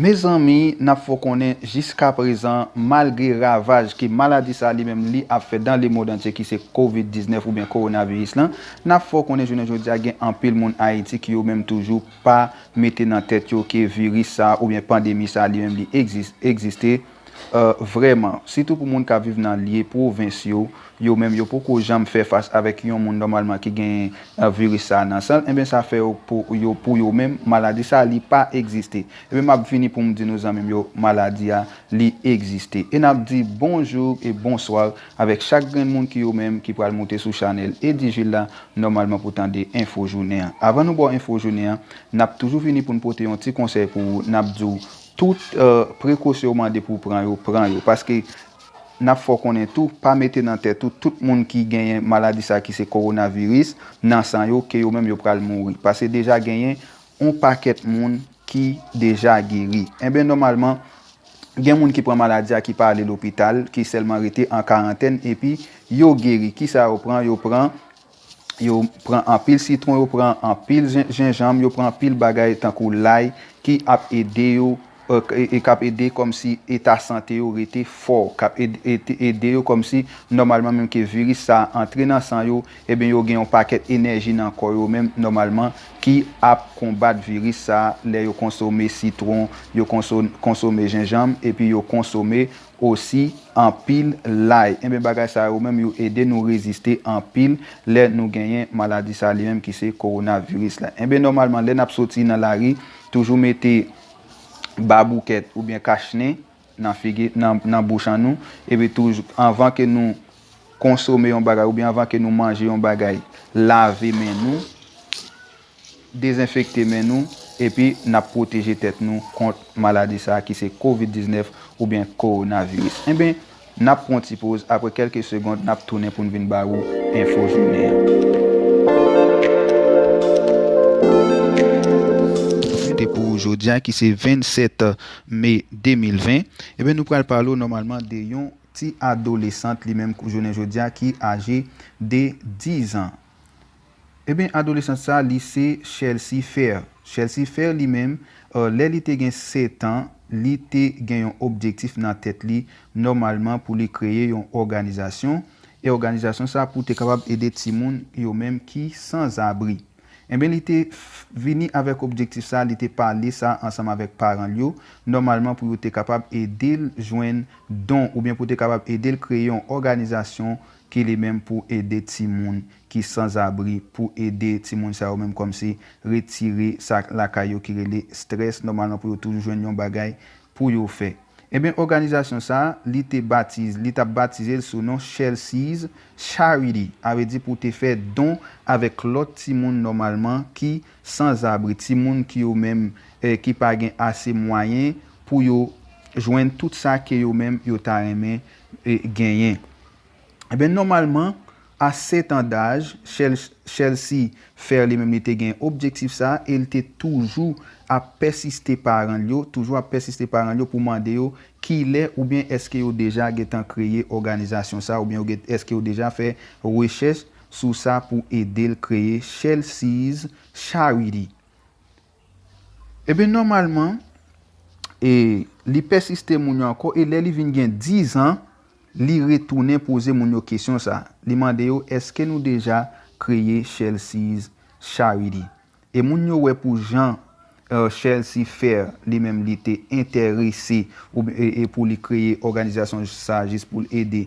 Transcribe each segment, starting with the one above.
Mezanmi nap fè w konnen jiska prezan malgre ravaj ke maladi sa li menm li ap fè dan le mond antye ki se covid 19 oubyen kowonaviris lan, nap fè w konnen jounen jodi a gen anpil moun Ayiti ki yo menm toujou pa mete nan tèt yo ke viris sa oubyen pandemi sa li menm li egziste. Vrèman, sitou pou moun k ap viv nan lye pwovens yo, yo menm yo poko janm fè fas avèk yon moun nòmalman ki gen viris sa a nan san l, enben sa fè yo pou yo menm maladi sa a li pa egziste. Enben m ap vini pou m di nou zanmi m yo maladi a li egziste. E n ap di bonjou e bonswa avèk chak grenn moun ki yo menm ki pral moute sou chanèl Eddy Jules la nòmalman pou tande enfo jounen an. Avan nou ba w enfo jounen an, n ap toujou vini pou n pote yon ti konsèy pou ou, n ap di w Tout prekosyon ou mande pou w pran yo, pran yo. Paske, n ap fè w konnen tou, pa mete nan tèt ou, tout moun ki genyen maladi sa ki se kowonaviris, nan san yo, ke yo menm yo pral mouri. Pase deja genyen yon pakèt moun ki deja geri. Enben nòmalman, gen moun ki pran maladi a ki pa ale lopital, ki sèlman rete an karantèn, epi yo geri. Kisa yo pran? Yo pran. yo pran anpil sitwon, yo pran anpil jenjanm, yo pran anpil bagay tankou lay ki ap ede yo, k ap ede kòm si eta sante yo rete fò, k ap ede yo kòm si nòmalman menm ke viris sa antre nan san yo, ebyen yo gen yon pakèt enèji nan kò yo menm nòmalman ki ap konbat viris sa lè yo konsome sitwon, yo konsome jenjanm epi yo konsome. Osi anpil lay. Enben bagay sa yo menm yo ede nou reziste anpil lè nou genyen maladi sa li menm ki se korona viris la. Enben nòmalman lè nap soti nan lari toujou mete baboukèt oubyen kach nen nan figi nan bouch an nou epi toujou anvan ke nou konsome yon bagay oubyen anvan ke nou manje yon bagay lave men nou dezenfekte men nou epi n ap pwoteje tèt nou kont maladi sa ki se covid 19 oubyen kowonaviris enben n ap pran ti poz aprè kèlke segond n ap tounen pou n vin ba ou enfo jounen an te pou jodi a ki se 27 me 2020 enben nou pral pale w nòmalman de yon ti adolesant li menm jounen jodi a ki aje de 10 an. Eben adolesant sa li se Chelsea Fair. Chelsea Fair li menm, lè li te gen setan, li te gen yon objektif nan tèt li nòmalman pou li kreye yon òganizasyon, e òganizasyon sa pou te kapab ede timoun yo menm ki san zabri. Eben li te vini avèk objektif sa, li te pale sa ansanm avèk paran l yo, nòmalman pou yo te kapab ede l jwenn don oubyen pou te kapab ede l kreye yon òganizasyon ki li menm pou ede timoun ki sanzabri, pou ede timoun sa yo menm kòmsi retire sa lakay yo ki rele strès, nòmalman pou yo toujou jwenn yon bagay pou yo fè. Enben òganizasyon sa a, li te batize, li t ap batize l sou non Chelsea's Charity, avè di pou te fè don avèk lòt timoun nòmalman ki sanzabri, timoun ki yo menm ki pa gen ase mwayen pou yo jwenn tout sa ke yo menm yo ta renmen genyen. Enben nòmalman a 7 an daj, Chelsea Fer li menm li te gen objektif sa a e li te toujou ap pèsiste paran l yo, toujou ap pèsiste paran l yo pou mande yo kilè oubyen èske yo deja gentan kreye òganizasyon sa a oubyen èske yo deja fè rechèch sou sa pou ede l kreye Chelsea's Charity. Ebyen nòmalman e li pèsiste moun yo ankò e lè li vin gen 10 an li retounen poze moun yo kesyon sa a. Li mande yo èske nou deja kreye Chelsea's Charity? E moun yo wè pou jan Chelsea Fair li menm li te entèrese e pou li kreye òganizasyon sa a jis pou l ede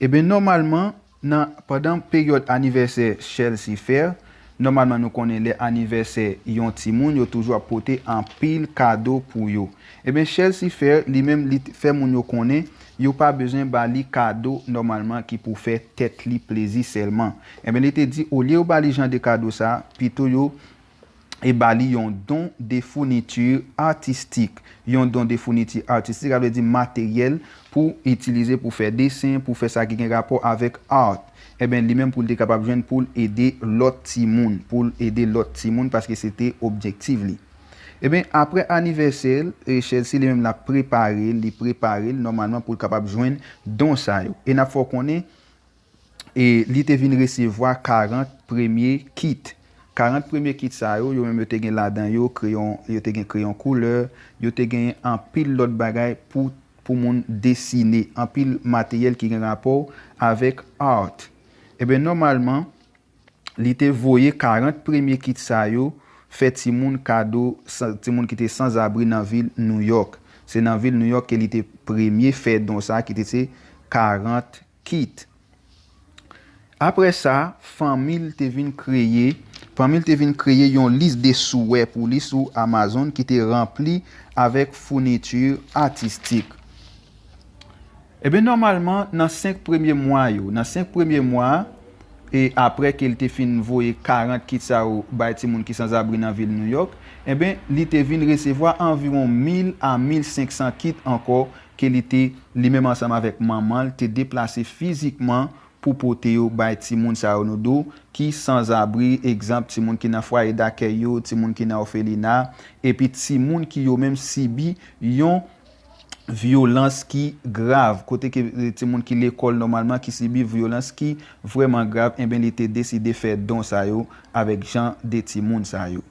Eben nòmalman nan pandan peryòd anivèsè Chelsea Fair, nòmalman nou konnen lè anivèsè yon timoun yo toujou ap pote anpil kado pou yo. Eben Chelsea Fair li menm li fè moun yo konnen yo pa bezwen ba li kado nòmalman ki pou fè tèt li plezi sèlman. Eben li te di olye yo ba li jan de kado sa, pito yo e ba li yon don de founiti atistik. Yon don de founiti atistik, sa vle di materyèl pou itilize pou fè desen, pou fè sa ki gen rapò avèk art. Enben, li menm pou l te kapab jwenn pou l ede lòt timoun, pou l ede lòt timoun paske se te objektif li. Enben, apre anivèsè l, Chelsea li menm l ap prepare l, li prepare l nòmalman pou l kapab jwenn don sa yo. E n ap fè w konnen. e li te vin resevwa 40 premye kit. 40 premye kit sa yo, yo menm yo te gen ladan yo kreyon, yo te gen kreyon koulè, yo te genyen anpil lòt bagay pou pou moun desine, anpil materyèl ki gen rapò avèk art. Eben nòmalman, li te voye 40 premye kit sa yo fè timoun kado, timoun ki te sanzabri nan vil Nouyòk. Se nan vil Nouyòk ke li te premye fè don sa ki te se 40. Kit. Apre sa, fanmi l te vin kreye fanmi l te vin kreye yon lis de souwè pou li sou Amazon ki te ranpli avèk founiti atistik. Enben, nòmalman, nan senk premye mwa yo, nan senk premye mwa a, e apre ke l te fin voye 40 kit sa yo bay timoun ki sanzabri nan vil Nouyòk, enben, li te vin resevwa anviwon mil a mil senk san kit ankò ke li te, li menm ansanm avèk manman l, te deplase fizikman pou pote yo bay timoun sa yo nou do, ki sanzabri, egzanp, timoun ki nan fwaye dakèy yo, timoun ki nan òfelina, epi timoun ki yo menm sibi yon vyolans ki grav, kote ke timoun ki lekòl nòmalman ki sibi vyolans ki vrèman grav, enben li te deside fè don sa yo avèk jan de timoun sa yo.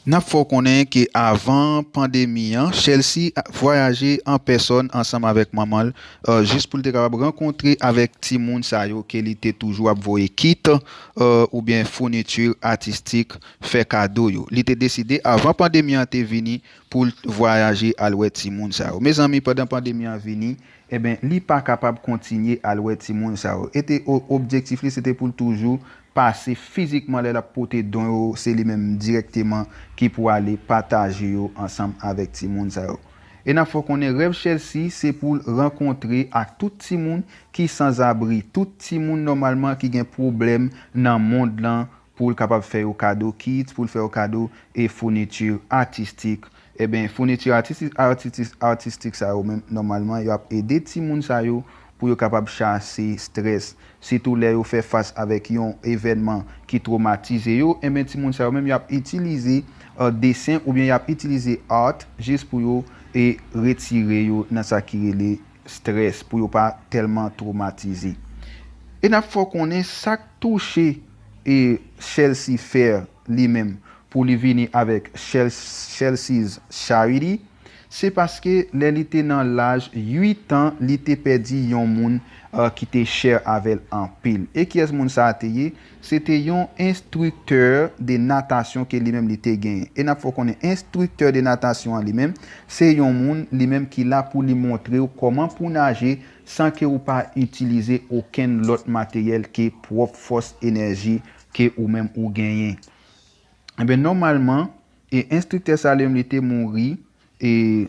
N ap fè w konnen ke avan pandemi an, Chelsea vwayaje an pèsòn ansanm avèk manman l jis pou l te kapab rankontre avèk timoun sa yo ke li te toujou ap voye kit oubyen founiti atistik fè kado yo. Li te deside avan pandemi an te vini pou l vwayaje al wè timoun sa yo. Mezanmi pandan pandemi an vini, Enben, li pa kapab kontinye al wè timoun sa yo. E te objektif li se te pou l toujou pase fizikman lè l ap pote don yo, se li menm dirèkteman ki pou ale pataje yo ansanm avèk timoun sa yo. E n ap fè w konnen rèv Chelsea se pou l rankontre ak tout timoun ki sanzabri, tout timoun nòmalman ki gen pwoblèm nan mond lan pou l kapab fè yo kado kits, pou l fè yo kado e founiti atistik. Enben, founiti atistik sa yo menm, nòmalman, yo ap ede timoun sa yo pou yo kapab chase strès. Sitou lè yo fè fas avèk yon evènman ki twomatize yo, enben timoun sa yo menm yo ap itilize desen oubyen y ap itilize art jis pou yo retire yo nan sa ki rele strès pou yo pa tèlman twomatize. E n ap fè w konnen sa k touche Chelsea Fair li menm pou li vini avèk Chelsea's Charity, se paske lè li te nan laj 8 an li te pèdi yon moun ki te chè avè l anpil. E kiyès moun sa a te ye? Se te yon enstriktè de natasyon ke li menm li te genyen. E n ap fè w konnen enstriktè de natasyon an li menm, se yon moun li menm ki la pou li montre w kòman pou w naje san ke ou pa itilize okenn lòt materyèl ke pwòp fòs enèji ke ou menm ou genyen. Enben nòmalman, e enstriktè sa li menm li te mouri, e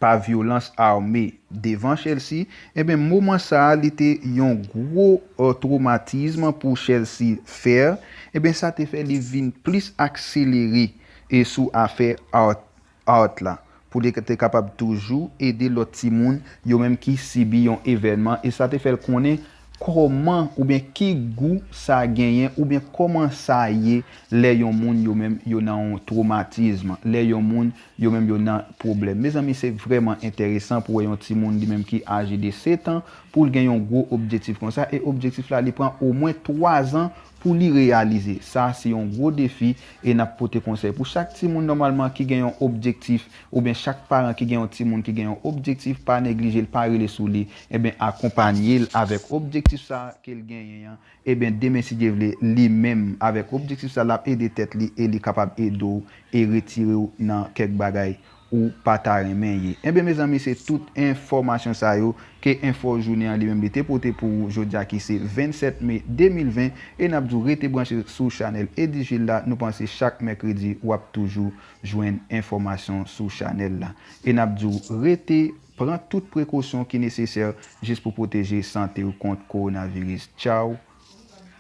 pa vyolans ame devan Chelsea, enben moman sa a li te yon gwo twomatism pou Chelsea Fer, enben sa te fè li vin plis akselere e sou afè Art Art la pou li te kapab toujou ede lòt timoun yo menm ki sibi yon evènman e sa te fè l konnen Kòman oubyen ki gou sa genyen oubyen kòman sa ye lè yon moun yo menm yo nan yon twomatizm, lè yon moun yo menm yo nan pwoblèm. Mezanmi se vrèman enteresan pou wè yon timoun li menm ki aje de setan pou l gen yon gwo objetif konsa e objektif la li pran omwen twazan pou li reyalize. Sa se yon gwo defi e n ap pote konsèy pou chak timoun nòmalman ki gen yon objektif Oubyen chak paran ki gen yon timoun ki gen yon objektif pa neglije l pa rele sou li eben akonpanye l avèk objektif sa ke l genyen an eben demen si Dye vle li menm avèk objektif sa lap ede tèt li e li kapab ede w e retire w nan kèk bagay ou pa ta renmen ye eben mezanmi se tout enfòmasyon sa yo ke enfo jounen an li menm li te pote pou ou jodi a ki se 27 me 2020 e nap di w rete branche sou chanèl Eddy Gilles la nou panse chak mèkredi wap toujou jwenn enfòmasyon sou chanèl la. E nap diw rete pran tout prekosyon ki nesesè jis pou pwoteje santew kont kowonaviris. Tchaw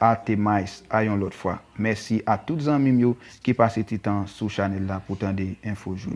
a te mais a yon lòt fwa. Mèsi a tout zanmim yo ki pase ti tan sou chanèl la pou tande enfo jounen.